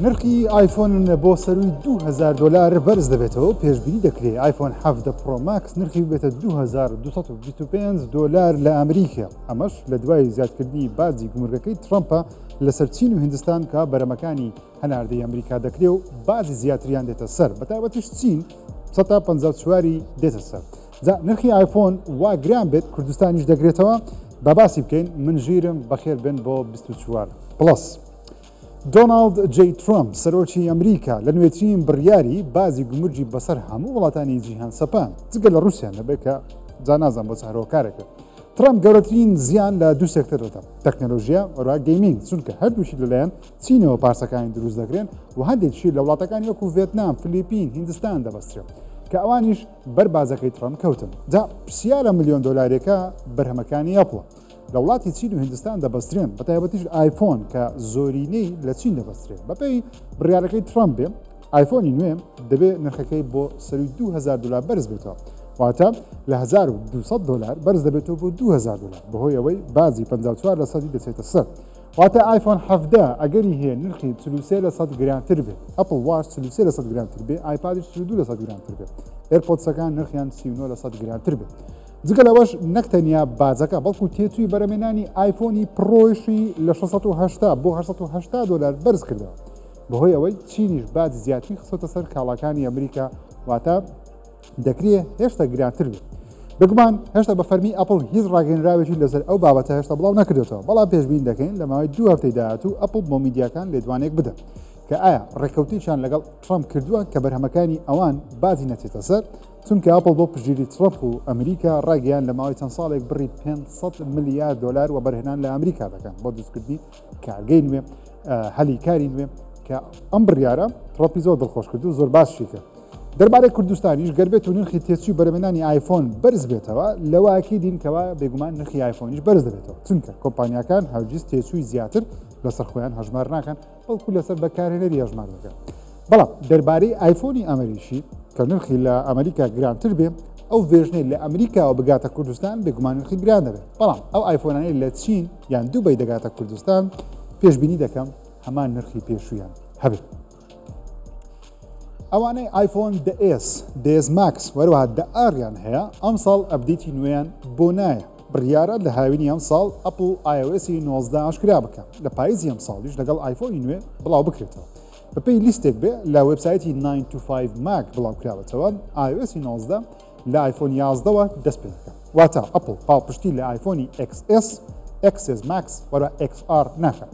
نرخی ئایفۆن بۆ سەروی 2000 دلار بەرز دەبێتەوە پێشببینی دەکرێت ئایفۆن حەفدە پرۆماکس نرخی بێتە 2225 دلار لە ئەمریکا ئەمەش لە دوای زیادکردنی بازی گومرگەکەی ترامپە لەسەر چین و هندستان کە بەرەمەکانی هەناردەی ئەمریکا دەکرێ و بازی زیاتریان دێتە سەر بە تایبەتیش چین سە تا پەنجا و چواری دێتە سەر جا نرخی ئایفۆن وا گران بێت کوردستانیش دەگرێتەوە با باسی بکەین من ژیرم بەخێر بن بۆ 24 پڵس دۆناڵد جی ترامپ سەرۆکی ئەمریکا لە نوێترین بڕیاری بازی گومرجی بەسەر هەموو وڵاتانی جیهان سەپان جگە لە رووسیان نەبێت کە جانازان بۆ چارۆکارەکە ترامپ گەورەترین زیان لە دوو سێکتەر دەدا تەکنەلۆژیا وەرا گەیمینگ چونکە هەردووشی لەلایەن چینەوە پارچەکانی دروست دەکرێن و هەندێکشی لە وڵاتەکانی وەکو ڤێتنام، فلیپین، هیندستان دەبەسترێن کە ئەوانیش بەر بازەکەی تڕەمپ کەوتن. جا پرسیارە ملیۆن دۆلارێکە بەرهەمەکانی ئەپڵ لە وڵاتی چین و هیندستان دەبەسترێن بە تایبەتیش ئایفۆن کە زۆرینەی لە چین دەبەسترێت بەپێی بڕیارەکەی تڕەمپ بێ ئایفۆنی نوێ دەبێت نرخەکەی بۆ سەروی 2000 دلار بەرز بێتەوە واتە لە 1200 دلار بەرز دەبێتەوە بۆ 2000 دلار بەهۆی ئەوەی بازی 54 لە سەدی دەچێتە سەر واتە ئایفۆن حەڤدە ئەگەری هەیە نرخی چل و سێ لە سەد گرانتر بێت ئەپڵ واش چل و سێ لە سەد گرانتر بێ ئایپادیش چل و دوو لە سەد گرانتر بێت ئێرپۆدسەکان نرخیان سی و نۆ لە سەد گرانتر بێت جگە لەوەش نەک تەنیا باجەکە بەڵکو تێچووی بەرەمێنانی ئایفۆنی پڕۆیشی لە 1680 بۆ 1970 دلار بەرز کردەوە بەهۆی ئەوەی چینیش باج زیاتری خسۆتە سەر کاڵاکانی ئەمریکا واتە دەکرێ هێشتا گرانتر بێت بگومان هێشتا بە فەرمی ئەپل هیچ ڕاگەنراوێکی لەسەر ئەو بابەتە هێشتا بڵاو نەکردێتەوە بەڵام پێشبین دەکەین لە ماوەی دوو هەفتەی داهاتوو ئەپل بۆ میدیاکان لێدوانێک بدەن کە ئایا ڕێککەوتێکیان لەگەڵ ترامپ کردووە کە بەرهەمەکانی ئەوان بازی نەچێتە سەر چونکە ئەپل بۆ پژیری ترامپ و ئەمریکا ڕاگەیان لە ماوەی چەند ساڵێک بڕی 500 ملیار دلار و بەرهێنان لە ئەمریکا دەکەن بۆ دروستکردنی کارگەی نوێ هەلی کاری نوێ کە ئەم بڕیارە ترۆپی زۆر دڵخۆش کرد و زۆر باسشی کرد دەربارەی کوردستانیش گەربێت و نرخی تێچوی بەرەمێنانی آیفۆن بەرز بێتەوە لەواکی دینکەوە بێگومان نرخی آیفۆنیش بەرز دەبێتەوە چونکە کۆمپانیەکان هەرگیز تێچووی زیاتر لەسەر خۆیان هەژمار ناکەن بەڵکو لەسەر بەکارێنەری هەژمار دەکەن بەڵام دەربارەی ئایفۆنی ئەمریکی کە نرخی لە ئەمریکا گرانتر بێ ئەو ڤێژنەی لە ئەمریکاوە بگاتە کوردستان بێگومان نرخی گران دەبێت بەڵام ئەو ئایفۆنانەی لە چین یان دوبی دەگاتە کوردستان پێشببینی دەکەم هەمان نرخی پێشویان هەبێت. ئەوانەی ئایفۆن دەئس دێز ماکس وەروەها دەئاریان هەیە ئەم ساڵ ئەبدیتی نوێیان بۆ نایە بڕیارە لە هاوینی ئەم ساڵ ئەپل آیوسی 19 ئاشکرا بکە لە پاییزی ئەم ساڵیش لەگەڵ ئایفۆنی نوێ بڵاو بکرێتەوە بەپێی لیستێک بێ لە وێبسایتی ناین تو فایڤ ماک بڵاوکراوەتەوە، ئایۆئێسی نۆزدە لە ئایفۆن یازدەوە دەست پێ دەکات. واتە ئەپڵ پاڵپشتی لە ئایفۆنی ئێکس ئێس، ئێکس ئێس ماکس و ئێکس ئار ناکات.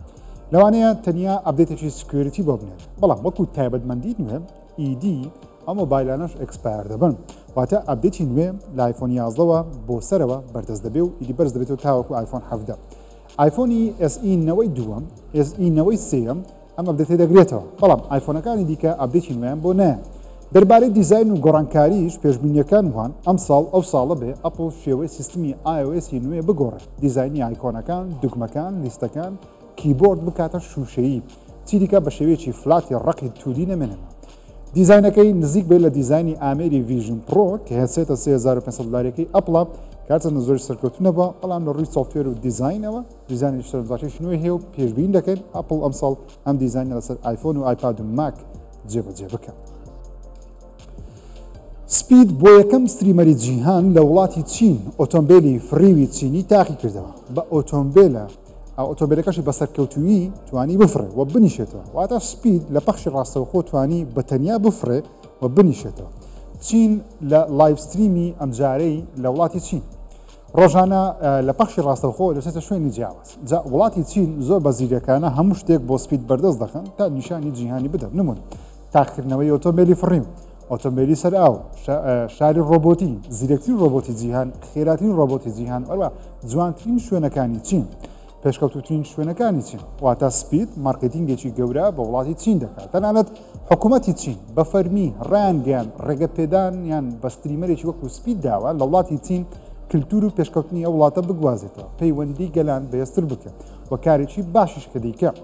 لەوانەیە تەنیا ئەپدەیتێکی سکیۆریتی بۆ بنێت، بەڵام وەکو تایبەتمەندی نوێ ئیدی ئەو مۆبایلانەش ئێکسپایەر دەبن. واتە ئەپدەیتی نوێ لە ئایفۆن یازدەوە بۆ سەرەوە بەردەست دەبێ و ئیدی بەرز دەبێتەوە تاوەکو ئایفۆن حەڤدە. ئایفۆنی ئێس ئی نەوەی دووەم، ئێس ئی نەوەی سێیەم ئەم ئەپدەتەی دەگرێتەوە، بەڵام ئایفۆنەکانی دیکە ئەپدەیتی نوێیان بۆ نایەن. دەربارەی دیزاین و گۆڕانکارییش پێشبینییەکان وان ئەمساڵ ئەو ساڵە بێ ئەپڵ شێوەی سیستمی ئای ئۆ ئێس ی نوێ بگۆڕێ، دیزاینی ئایکۆنەکان، دوگمەکان، لیستەکان، کیبۆرد بکاتە شووشەیی. چیدیکە بە شێوەیەکی فلاتی ڕەقی توودی نەمێنێتەوە. دیزاینەکەی نزیک بێت لە دیزاینی ئامێری ڤیژن پڕۆ کە هێسێتە 3500 دلارەکەی ئەپڵە کارچەندە زۆری سەرکەوتنە بە بەڵام لە ڕووی سۆفتێر و دیزاینەوە دیزانی شتەرزاکەش نوێ هەیە و پێشبین دەکەین ئەپل ئەمساڵ ئەم دیزانە لەسەر ئایفۆن و ئایپاد و ماک جێبەجێ بکەن. سپید بۆ یەکەم ستریمەری جیهان لە وڵاتی چین ئۆتۆمبیلی فڕیوی چینی تاقی کردەوە بە ئۆتۆمبیلە ئۆتۆمبێلەکەشی بە سەرکەوتوویی توانی بفڕێ و بنیشێتەوە واتە سپید لە پەخشی ڕاستەوخۆ توانی بە تەنیا بفڕێ و بنیشێتەوە چین لە لایڤستریمی ئەمجارەی لە وڵاتی چین ڕۆژانە لە پەخشی ڕاستەوخۆ دەچێتە شوێنی جیاواز جا وڵاتی چین زۆر بە زیرەکانە هەموو شتێک بۆ سپید بەردەست دەخن تا نیشانی جیهانی بدەن نمون تاقکردنەوەی ئۆتۆمبیلی فڕیم ئۆتۆمبێلی سەر ئاو، شاری ڕۆبۆتی، زیرەکترین ڕۆبۆتی جیهان، خێراترین ڕۆبۆتی جیهان، ئەوە جوانترین شوێنەکانی چین. پێشکەوتوترین شوێنەکانی چین واتە سپید مارکتینگێکی گەورە بە وڵاتی چین دەکات تەنانەت حکوومەتی چین بە فەرمی ڕانگەیان ڕێگە پێدان یان بەستریمەرێکی وەکو سپید داوە لە وڵاتی چین کللتور و پێشکەوتنی ئەو وڵاتە بگوازێتەوە پەیوەندی گەلان بەێستر بکەن و کارێکی باشیش کە دیکە.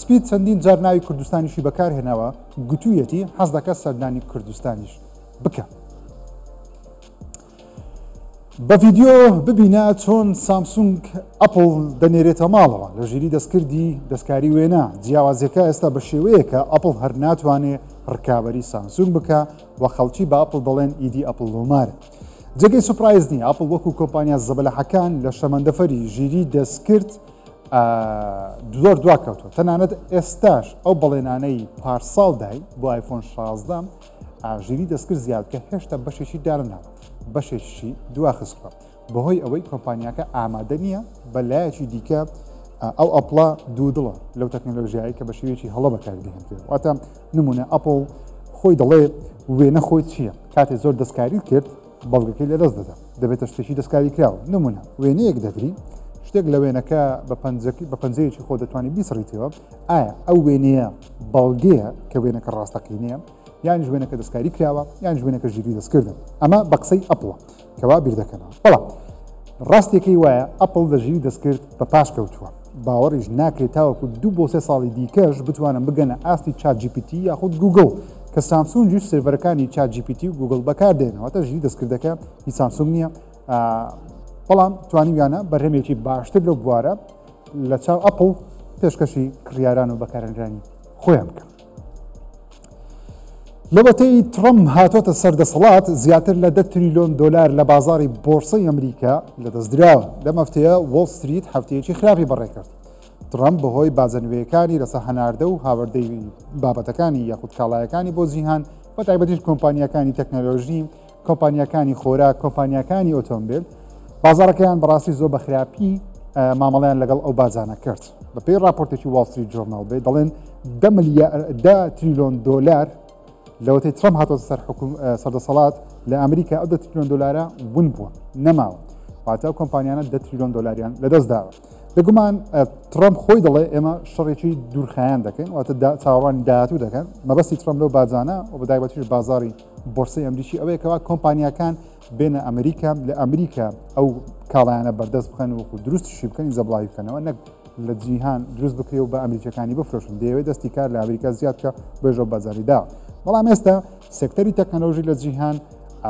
سپید چەندین جار ناوی کوردستانیشی بەکارهێناوە، گوتوویەتی حەز دەکات سەردانی کوردستانیش بکا. بە ڤیدیۆ ببینە چۆن سامسونگ ئەپڵ دەنێرێتە ماڵەوە لە ژیری دەستکردی دەستکاری وێنا جیاوازیەکە ئێستا بە شێوەیەکە ئەپڵ هەر ناتوانێ ڕکابی سامسونگ بکە و خەڵکی بە ئەپڵ دەڵێن ئیدی ئەپل لۆمارە. جێگەی سوپرایز نیە ئەپل وەکو کۆمپانیا زەبەلەحەکان لە شەمەندەفەری ژیری دەستکرد زۆر دوا کەوتوە تەنانەت ئێستاش ئەو بەڵێنانەی پارساڵ دای بۆ ئایفۆن 16 ئاژیری دەستکرد زیاد کە هێشتا بەشێکی دارنا بەشێکی دواخستوە بەهۆی ئەوەی کۆمپانیاکە ئامادە نییە بە لایەکی دیکە ئەو ئەپڵە دوو دڵە لەو تەکنەلۆژیایی کە بە شێوێکی هەڵە بەکاری دەهێنێت واتە نمونە ئەپڵ خۆی دەڵێ وێنە خۆی چییە کاتێ زۆر دەستکاری کرد بەڵگەکەی لەدەست دەدا، دەبێتە شتێکی دەستکاریکراو، نمونە وێنەیەک دەگری شتێک لە وێنەکە بە پەنجەکی بە پەنجەیەکی خۆ دەتوانانی بیسڕیتەوە، ئایا ئەو وێنەیە بەڵگەیە کە وێنەکە ڕاستەقینەیە یانیش وێنەکە دەستکاری کراوە یان ژوێنەکە ژیری دەستکردن ئەمە بە قسەی ئەپڵە کەوا بیردەکەنەوە بەڵام ڕاستیەکەی وایە ئەپڵ لە ژیری دەستکرد بە پاش کەوتووە. باوەڕیش ناکرێت تاوەکو دوو بۆ سێ ساڵی دیکەش بتوانن بگەنە ئاستی چات جی پی تی یاخود گوگڵ کە سامسونجیش سێرڤەرەکانی چات جی پی تی و گوگڵ بەکاردێن واتە ژی دەستکردەکە هی سامسونگ نییە بەڵام توانیویانە بەرهەمێکی باشتر لەو بوارە لە چاو ئەپڵ پێشکەشی کڕیاران و بەکارەنرانی خۆیان بکەن لەوەتەی تڕەم هاتۆتە سەر دەسەڵات زیاتر لە دە تریلۆن دلار لە بازاری بۆرسەی ئەمریکا لە دەستدراوە لە مەفتەیە وۆل ستریت هەفتەیەکی خراپی بەڕێکرد تڕەم بەهۆی بازەنوێیەکانی لەسە هەناردە و هاوردەی بابەتەکانی یاخود کاڵایەکانی بۆ جیهان بە تایبەتیش کۆمپانیەکانی تەکنەلۆژی کۆمپانیاکانی خۆراک کۆمپانیاکانی ئۆتۆمبیل بازارەکەیان بەڕاستی زۆر بەخراپی مامەڵیان لەگەڵ ئەو بازانە کرد بەپی راپۆرتێکی واڵتری جۆرناڵ بێ دەڵێن دە تریلۆن دۆلار لەوەتی ترم هاتۆ سەر حکوم سەردەسەڵات لە ئەمریکا ئەو دە تریلۆن دۆلارە ون بووە نەماوە واتە کۆمپانیانە دە تریلۆن دۆلاریان لەدەست داوە بگومان ترم خۆی دەڵێ ئێمە شەڕێکی دوورخایەن دەکەین واتە چاوەڕوانی داهاتوو دەکەن مەبەستی ترم لەو بازانە و بەدایبەتیش بازاری بۆرسەی ئەمریکی ئەوەیە کەوا کۆمپانیاکان بێنە ئەمریکا لە ئەمریکا ئەو کاڵایانە بەردەست بخەن و دروستشی بکەنی زەبڵاوی بکەنەوە نەک لە جیهان دروست بکرێ و بە ئەمریکەکانی بفرۆشن دەیەوێت دەستی کار لە ئەمریکا زیادکە بێژۆ بەزاریدا بەڵام ئێستا سێکتەری تەکنەلۆژی لە جیهان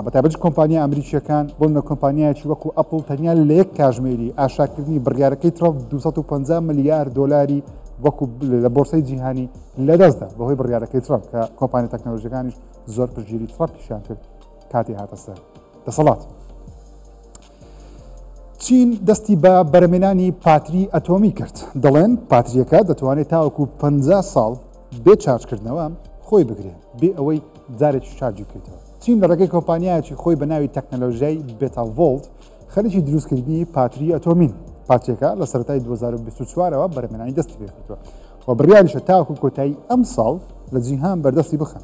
بەتابەت کۆمپانیا ئەمریکیەکان بۆن لە کۆمپانیایکی وەکو ئەپل تەنیا لە یەک کاژمێری ئاشاکردنی بڕیارەکەی ترۆپ 250 ملیار دلاری وەکو لە بۆرسی جیهانی لەدەستدا بەهۆی بڕیارەکەی ترۆپ کە کۆمپانی تەکنەلۆژیەکانیش زۆر پشتگیری تڕەپیشان کرد کاتی هاتە سەر دەسەڵات. چین دەستی بە بەرەمێنانی پاتری ئەتۆمی کرد دەڵێن پاتریەکە دەتوانێت تاوەکو 50 ساڵ بێ چارجکردنەوە خۆی بگرێت بێ ئەوەی جارێک شارجی بکەیتەوە چین لە ڕێگەی کۆمپانیایەکی خۆی بە ناوی تەکنەلۆژیای بێتاڤۆلت خەریکی دروستکردنی پاتری ئەتۆمین پارچێکە لە سەرای 2024ەوە بەرەمێنانی دەستی پێکردووە و بڕیاریشە تاکو کۆتایی ئەم ساڵ لە جیهان بەردەستی بخەن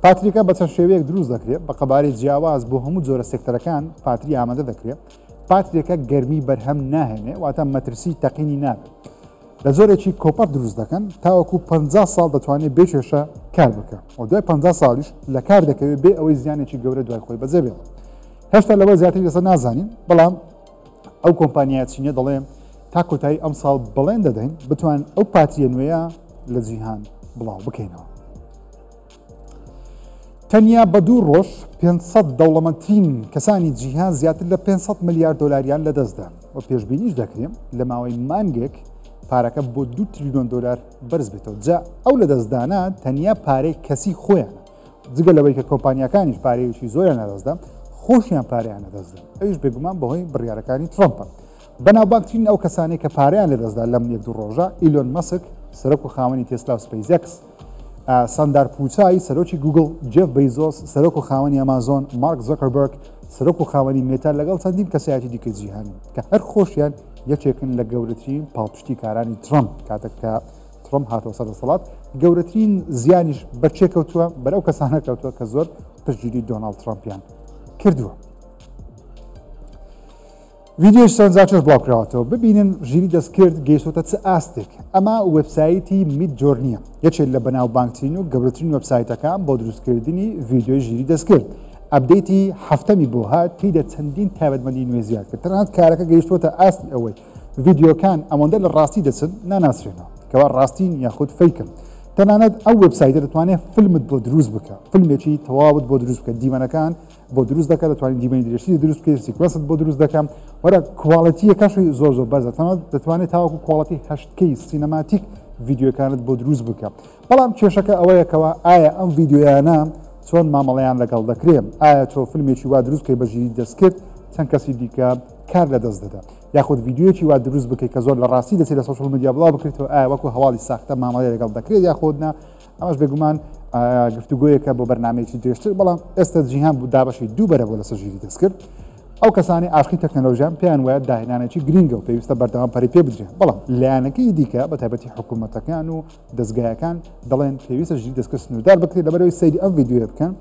پاتریکە بە چەند شێوەیەک دروست دەکرێت بە قەبارەی جیاواز بۆ هەموو جۆرە سێکتەرەکان پاتری ئامادە دەکرێت پاتریەکە گەرمی بەرهەم ناهێنێ واتە مەترسی تەقینی نابێت لە جۆرێکی کۆپەر دروست دەکەن تاوەکو پ ساڵ دەتوانێت بێ کێشە کار بکە و دوای پ ساڵیش لە کار دەکەوێت بێ ئەوەی زیانێکی گەورە دوای خۆی بەجێ بێت هێشتا لەوە زیاتری لەسەر نازانین بەڵام ئەو کۆمپانیا چینە دەڵێن تا کۆتایی ئەم ساڵ بڵێن دەدەین بتوان ئەو پاتیە نوێیە لە جیهان بڵاو بکەینەوە تەنیا بە دوو ڕۆژ 500 دەوڵەمەندترین کەسانی جیهان زیاتر لە 500 ملیار دلاریان لەدەستدا و پێشببینیش دەکرێن لە ماوەی مانگێک پارەکە بۆ دو تریلیۆن دلار بەرز بێتەوە جا ئەو لە دەستدانە تەنیا پارەی کەسی خۆیان جگە لەوەی کە کۆمپانیەکانیش پارەیەکی زۆریان نەدەستدا خۆشیان پاریان نەدەستدا ئەوش بێگومان بەهۆی بڕیارەکانی ترۆمپە بەناوبانترین ئەو کەسانی کە پاریان لەدەستدا لەم یەک دوو ڕۆژە ئیلۆن مەسک سەرک و خاوەنی تێسلا و سپیزەکس ساندار پوچای سەرۆکی گوگل جێف بەیزۆس سەرۆک و خاوەنی ئەمازۆن مارک زۆکەربرگ سەرۆک و خاوەنی مێتا لەگەڵ چەندین کەسایەتی دیکە جیهانی کە هەر خۆشیان یەکێکن لە گەورەترین پاڵپشتی کارانی ترەم کاتێک کە ترم هاتەوە سەر دەسەڵات گەورەترین زیانیش بەچێ کەوتووە بەرەو کەسانە کەوتووە کە زۆر پشتگیری دۆناڵد ترامپیان کردووە. ڤیدیۆی سەرنجاچۆش بڵاوکراوەتەوە ببینن ژیری دەستکرد گەیشتوتە چ ئاستێک ئەمە وبسایتی میت جۆرنیە یەکێت لە بەناوبانگترین و گەورەترین وبسایتەکان بۆ دروستکردنی ڤیددیۆی ژیری دەستکرد ئەبدەیتی هەفتەمی بۆ هات تیدا چەندین تایبەتمەندی نوێ زیاد کرد تەنانەت کارەکە گەیشتوتە ئاستی ئەوەی ڤیددیۆکان ئەوەندە لە ڕاستی دەچن ناناسرێنەوە کەوا ڕاستین یاخود فیکن تەنانەت ئەو وبسایتە دەتوانێت فیلمت بۆ دروست بکە فیلمێکی تەواوت بۆ دروست بکە دیمەنەکان بۆ دروست دەکە دەتوانین دیمەنی درێژتری دروست بکەی سیکوەنست بۆ دروست دەکەم وەرە کوواڵەتیەکەشی زۆر زۆر بەرزە تەمە دەتوانێت تاوەکو کوواڵەتی هەشتکەی سینەماتیک ڤیددیوەکانت بۆ دروست بکە بەڵام کێشەکە ئەوەیەکەوە ئایا ئەم ڤیددیویانە چۆن مامەڵەیان لەگەڵ دەکرێن ئایا تۆ فیلمێکی وا دروست کەی بەژیری دەستکرد چەند کەسی دیکە کار لە دەست دەدا یاخود ڤیددیوەکی وا دروست بکەیت کە زۆر لە ڕاستی دەچێت لە سوشل میدیا بڵاو بکرێتەوە ئایا وەکو هەواڵی ساختە مامەڵی لەگەڵ دەکرێت یاخۆدنا ئەمەش بێگومان گفتوگۆیەکە بۆ بەرنمەیەکی درێژتر بەڵام ئێستا جیهان بوو دابەشی دوو بەرە بۆ لەسەر ژیری دەست کرد ئەو کەسانی ئاشقی تەکنەلۆژیان پێیان وایە داهێنانێکی گرنگە و پێویستە بەردەوام پەری پێ بدرێن بەڵام لایەنەکەی دیکە بە تایبەتی حکوومەتەکان و دەستگایەکان دەڵێن پێویستە ژی دەستکە سنوودار بکرێت لەبەرەوەی سەیری ئەم ویددیوە بکەن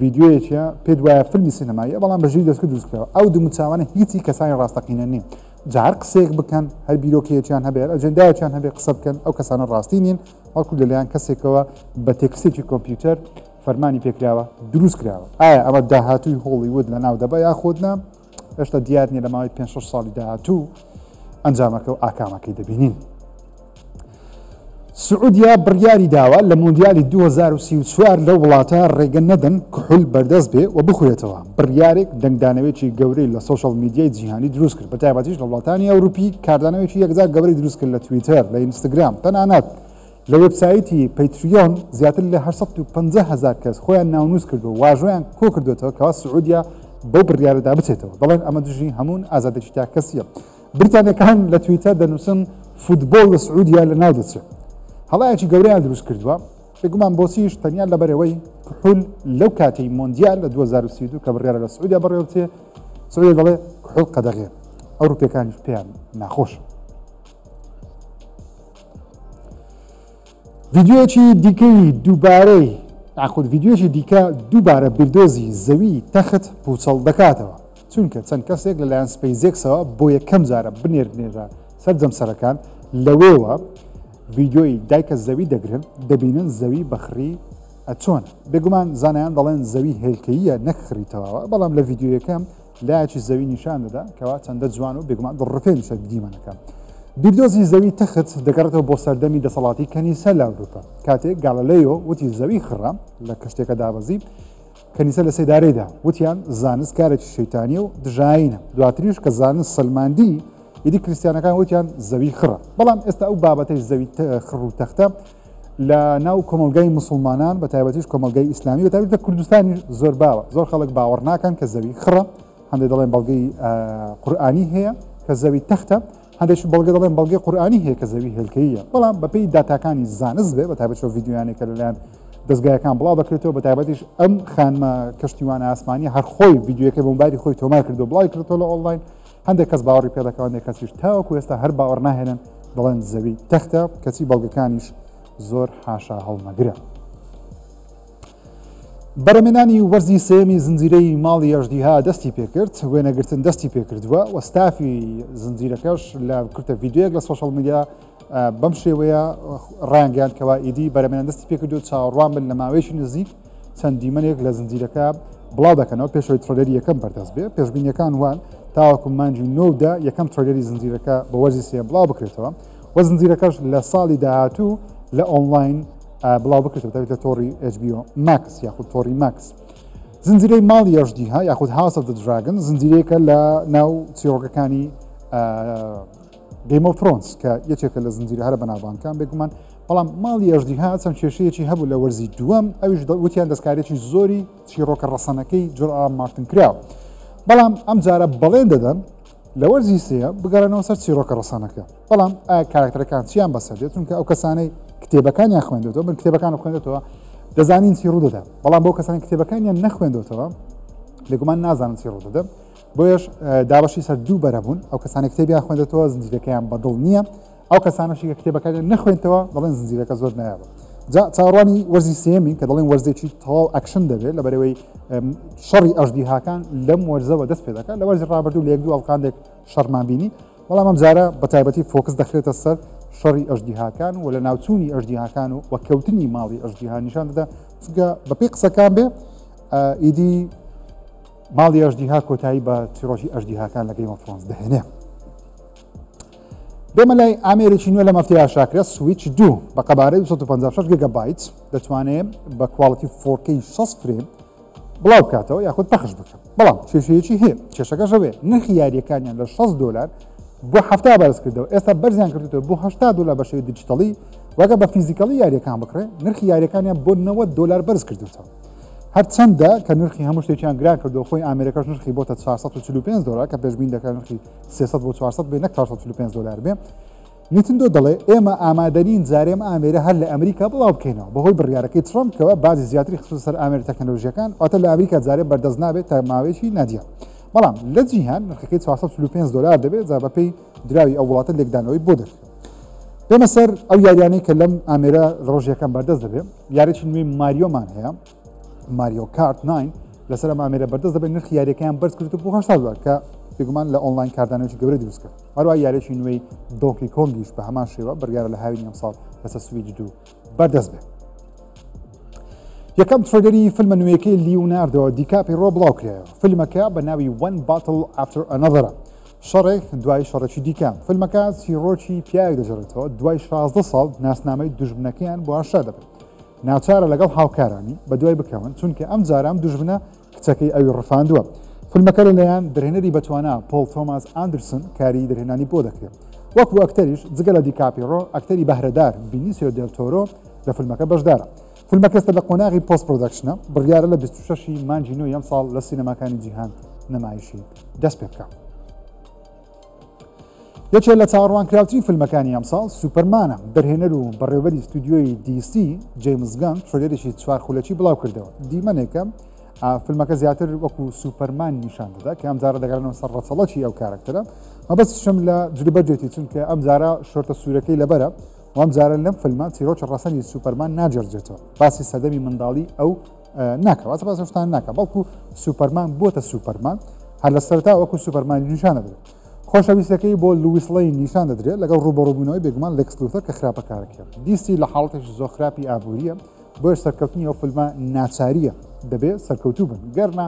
ویددیوەیەکە پێ دوایە فیلمی سینەماییە بەڵام بە ژیر دەستکە دروستکەوە ئەو دموچوانە هیچی کەسانی ڕاستەقینە نییە جار قسێک بکەن هەر بیرۆکەیەکیان هەبێت ئەجندایەکیان هەبێت قسە بکەن ئەو کەسانە ڕاستی نین بەڵکو لەلایەن کەسێکەوە بە تێکستێکی کۆمپیوتەر فەرمانی پێکراوە دروست کراوە ئایا ئەمە داهاتووی هۆڵی ود لە ناو دەبە یاخود نا هێشتا دیار نیە لە ماوەی 5 ساڵی داهاتوو ئەنجامەکە و ئاکامەکەی دەبینین سعودیا بڕیاری داوە لە مۆندیالی 2024 لە وڵاتە ڕێگە نەدەن کحول بەردەست بێ و بخورێتەوە بڕیارێک دەنگدانەوێکی گەورەی لە سۆشیال میدیای جیهانی دروست کرد بە تایبەتیش لە وڵاتانی ئەوروپی کاردانەوێکی یەکجار گەورەی دروست کرد لە تویتەر لە ئینستاگرام تەنانەت لە وێبسایتی پەیتریۆن زیاتر لە 850 هزار کەس خۆیان ناونووس کردو واژۆیان کۆ کردوێتەوە کەوا سعودیا بەو بڕیارەدا بچێتەوە دەڵێن ئەمە دژی هەمون ئازادێکی تا کەسیە بریتانەکان لە تویتە دەنووسن فوتبۆل لە سعودیا لە ناو دەچێت هەڵایەکی گەوریان دروست کردووە بێگومان بۆچیش تەنیا لەبەرەوەی کحول لەو کاتی مۆندیال لە 2032 کە بڕیارە لە سعودیا بەڕێوەچێ سعودیا دەڵێ کحول قەدەغێ ئەو روپیەکانیش پێیان ناخۆش ڤیددیوەکی دیکەی دووبارەی یاخود ڤیددیوەکی دیکە دووبارە بیردۆزی زەوی تەخت پوچەڵ دەکاتەوە چونکە چەند کەسێک لەلایەن سپەیزێکسەوە بۆ یەکەم جارە بنێردنێتە سەر جەمسەرەکان، لەوێوە ڤیدیۆی دایکە زەوی دەگرن، دەبینن زەوی بە خڕی ئەچۆن، بێگومان زانایان دەڵێن زەوی هێلکەییە نەک خڕی تەواوە، بەڵام لە ڤیدیۆیەکە لایەکی زەوی نیشان دەدا کەوا چەندە جوان و بێگومان دڵڕفێنیشە دیمەنەکە. بیردۆزی زەوی تەخت دەگەڕێتەوە بۆ سەردەمی دەسەڵاتی کەنیسە لە ئەوروپا، کاتێک گاڵەلەیۆ وتی زەوی خڕە لە کەشتێکە دابەزی، کەنیسە لە سێدارەیدا وتیان زانست کارێکی شەیتانیە و دژاینە دواتریش کە زانست سلماندی ئیدی کریسیانەکان وتیان زەوی خڕە بەڵام ئێستا ئەو بابەتەی زەوی خڕ و تەختە لە ناو کۆمەلگای مسلمانان بە تایبەتیش کۆمەلگای ئیسلامی بەتابێت لە کوردستانی زۆر باوە زۆر خەڵک باوەڕ ناکەن کە زەوی خڕە هەندێک دەڵێن بەڵگەی قورآانی هەیە کە زەوی تەختە هەندێکیش بەڵگە دەڵێن بەڵگەی قورئانی هەیە کە زەوی هێلکەییە بەڵام بەپێی داتاکانی زانست بێ بە تایبەت چۆ ڤیددیویانێک کە لەلایەن دەستگایەکان بڵاو دەکرێتەوە بە تایبەتیش ئەم خانمە کەشتیوانە ئاسمانی هەرخۆی ڤیددیوەکە بۆمباری خۆی تۆمار کردو بڵای کردۆ لە ئۆنلاین هەندێک کەس باوەڕی پێدەکەوانێک کەسیش تاوەکو ئێستا هەر باوەڕ ناهێنن دەڵێن زەوی تەختە کەچی بەڵگەکانیش زۆر حاشا هەڵمەگرە. بەرەمێنانی وەرزی سێمی زنجیرەی ماڵی ئەژدیها دەستی پێکرد وێنەگرتن دەستی پێکردووە و ستافی زنجیرەکەش لە کورتە یددیوەک لە سوۆشەڵ میدیا بەم شێوەیە ڕانگەیان کەوا ئیدی بەرەمێن دەستی پێکردو چاوەڕوان بن لە ماوەیەکی نزیک چەند دیمەنێک لە زنجیرەکە بڵاو دەکەنەوە پێشەوەی ترۆلەری یەکەم بەردەست بێ پێشببینیەکان وان تاوەکو مانجی نۆدا یەکەم ترۆلەری زنجیرەکە بە وەرزی سێ بڵاو بکرێتەوە وە زنجیرەکەش لە ساڵی داهاتوو لە ئۆنلاین بڵاو بکرێت دەوێت لە تۆڕی HBO ماکس یاخود تۆری ماکس زنجیرەی ماڵ یاژدیها یاخود هاوسە دراگن زنجیرەیەکە لە ناو چیرۆگەکانی گەیمە فرۆنس کە یەکێکە لە زنجیرە هەرە بەناوانکان بێگومان بەڵام ماڵی ئەژدیها چەند کێشەیەکی هەبوو لە وەرزی دووەم ئەوش وتیان دەستکارێکی زۆری چیرۆکە ڕەسەنەکەی جرا مارتن کراوە بەڵام ئەم جارە بەڵێن دەدەن لە وەرزی سێیەم بگەڕێنەوە سەر چیرۆکە ڕەسەنەکە، بەڵام ئایا کارەکتەرەکان چییان بەسەر دێت؟ چونکە ئەو کەسانەی کتێبەکانیان خوێندوەتەوە من کتێبەکانم خوێندێتەوە دەزانین چی ڕوودەدا، بەڵام بۆ کەسانی کتێبەکانیان نەخوێندوەتەوە بێگومان نازانن چی ڕوودەدا، بۆیەش دابەشی سەر دوو بەرە بوون، ئەو کەسانی کتێبیان خوێندێتەوە زنجیرەکەیان بەدڵ نییە، ئەو کەسانەشی کە کتێبەکانی نەخوێنتەوە دەڵێن زنجیرەکە زۆر نایابە جا چاڕوانی وەرزی سێمین کە دەڵێن وەرزێکی تەواو ئەکشن دەبێت لە بەرەوەی شەڕی ئەژدیهاکان لەم وەرزەوە دەست پێ دەکات لە وەرزی ڕابردوو لە یەک دوو ئەڵقاندێک شەڕمان بینی بەڵام ئەم جارە بە تایبەتی فۆکس دەخرێتە سەر شەڕی ئەژدیهاکان و لە ناوچوونی ئەژدیهاکان و وەکەوتنی ماڵی ئەژدیها نیشان دەدا چونکە بەپی قسەکان بێ ئیدی ماڵی ئەژدیها کۆتایی بە چیرۆژی ئەژدیهاکان لەگەی مەفرۆنس دەهێنێ دێمە لای ئامێرێکی نوێ لە مەفتەیە شاکرە سویچ دوو بە قەبارەی 256 گگە بایت دەتوانێت بە کواڵەتی فۆرکەی 6 فرێم بڵاو بکاتەوە یاخود پەخش بکە بەڵام کێشەیەکی هەیە کێشەکەشەوێ نرخی یاریەکانیان لە 6 دلار بۆ هەفتا بەرز کردەوە ئێستا بەرزیان کردێتەوە بۆ هشتا دلار بە شێوی دیجیتەڵی وەگە بە فیزیکەڵی یاریەکان بکڕێ نرخی یاریەکانیان بۆ 90 دلار بەرز کردێتەوە هەرچەندە کە نرخی هەموو شتێکیان گران کردو خۆی ئامرەکەش نرخی بۆتە 445 دلار کە پێشبین دەکەن نرخی سێسەد بۆ چوارسەد بێ نەک چوارسەد و چل و پێنج دۆلار بێ نیتندۆ دەڵێ ئێمە ئامادەنین جارێم ئامێرە هەر لە ئەمریکا بڵاو بکەینەوە بەهۆی بڕیارەکەی ترامپ کەەوە بازی زیاتری خصوص سەر ئامێر تەکنەلۆژیەکان ئەوتە لە ئەمریکا جارێ بەردەست نابێت تا ماوەیەکی نادیە بەڵام لە جیهان نرخەکەی 435 دلار دەبێت جا بەپی دراوی ئەو وڵاتە لێکدانەوەی بۆ دەکرێت بێمە سەر ئەو یاریانەی کە لەم ئامێرە ڕۆژیەکان بەردەست دەبێت یارێکی نوێی ماریۆمان هەیە ماریۆ کارت 9 لەسەر ئەم ئامێرە بەردەست دەبێت نرخی یاریەکەیان بەرز کرد بۆ هەشتا دلار کە بێگومان لە ئۆنلاین کاردانەوەی گەورە دروست کرد هەروە یاریی نوێی دۆکی کۆنگیش بە هەمان شێوە بڕیارە لە هاوین ئەمساڵ لەسەر سویدی دوو بەردەست بێت یەکەم ترۆگەری فیلمە نوێیەکەی لیوناردۆ دیکاپی ڕۆ بڵاو کرایە فیلمەکە بە ناوی وەن باتل ئافتر ئەنەدەرە شەڕێک دوای شەڕێکی دیکە فیلمەکە سیڕۆکی پیاوێک دەژێتەوە دوای 16 ساڵ ناسنامەی دژبنەکەیان بۆ هەشتا دەبێت ناچارە لەگەڵ هاوکارانی بەدوای بکەون، چونکە ئەم جارە ئەم دوژمنە کچەکەی ئەوی ڕفاندووە. فیلمەکە لە لایەن درهێنەری بەتوانا پۆڵ تۆماس ئاندرسن کاری درهێنانی بۆ دەکرێت. وەکو ئەکتەریش جگە لە دیکاپیڕۆ، ئەکتەری بەهرەدار بینیسیۆ دێل تۆرۆ لە فیلمەکە بەشدارە. فیلمەکە ئێستا لە قۆناغی پۆست پرۆدەکشنە، بڕیارە لە بیست و شەش ی مانگی نۆی ئەمساڵ لە سینەماکانی جیهان نمایشی دەستپێبکا. یەکێ لە چاڕوانکراوترین فیلمەکانی ئەمساڵ سوپەرمانە دەرهێنەر و بەڕێوەری ستودیۆی دیسی جەیمزگان ترێدێکی چوار خولەکی بڵاو کردەوە دیمەنێکە فیلمەکە زیاتر وەکو سوپەرمان نیشان دەدا کە ئەم جارە دەگەڕنەوە سەر ڕەچەڵەکی ئەو کارکتەرە مەبەستشم لە جلوبەرجێتی چونکە ئەم جارە شۆرتە سوورەکەی لەبەرە وام جارە لەم فیلمە چیرۆکی ڕەسەنی سوپەرمان ناجێرجێتەوە باسی سەدەمی منداڵی ئەو ناکە واتە باس شتان ناکە بەڵکو سوپەرمان بۆتە سوپەرمان هەر لە سەرتا وەکو سوپەرمان نیشان دەدرێت خۆشەویستەکەی بۆ لویسڵی نیشان دەدرێت لەگەڵ ڕوبەڕبوونەوەی بێگومان لەکسلوتەر کە خراپەکارەکەێت دیسی لە حاڵەتێکی زۆ خراپی ئابوووریە بۆیە سەرکەوتنی ئەو فلمە ناچاریە دەبێت سەرکەوتوو بن گەرنا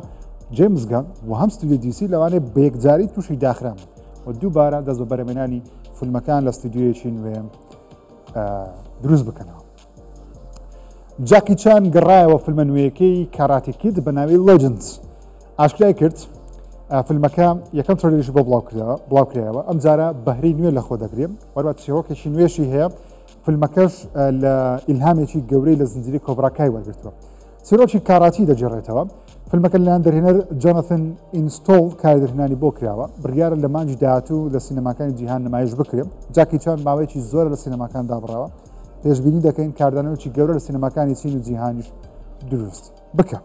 جێمزگان و هەم ستودی دیسی لەوانێ بەیەکجاری تووشی داخرام و دووبارە دەست بە بەرەمێنانی فیلمەکان لە ستودیویەکی نوێ دروست بکەنەوە جاکی چان گەڕایەوە فیلمە نوێیەکەی کاراتی کید بە ناوی لەجنس ئاشکرای کرد فیلمەکە یەکەم ترۆلیش بۆ بڵاوکرایەوە ئەم جارە بەهری نوێ لە خۆ دەگرێن وەروە چێوەکەشی نوێشی هەیە فیلمەکەش لە ئیلهامێکی گەورەی لە زنجری کۆبراکای وەرگتووە چیرۆکی کاراتی دەگێڕێتەوە، فیلمەکە لەلایەن دەرهێنەر جۆناثن ئینستۆڵ کارێدرهێنانی بۆ کراوە، بڕیارە لە مانگی داهاتوو لە سینەماکانی جیهان نمایش بکرێت، جاکی چان ماوەیەکی زۆرە لە سینەماکان دابڕاوە، پێشبینی دەکەین کاردانەوەیەکی گەورە لە سینەماکانی چین و جیهانیش دروست بکات.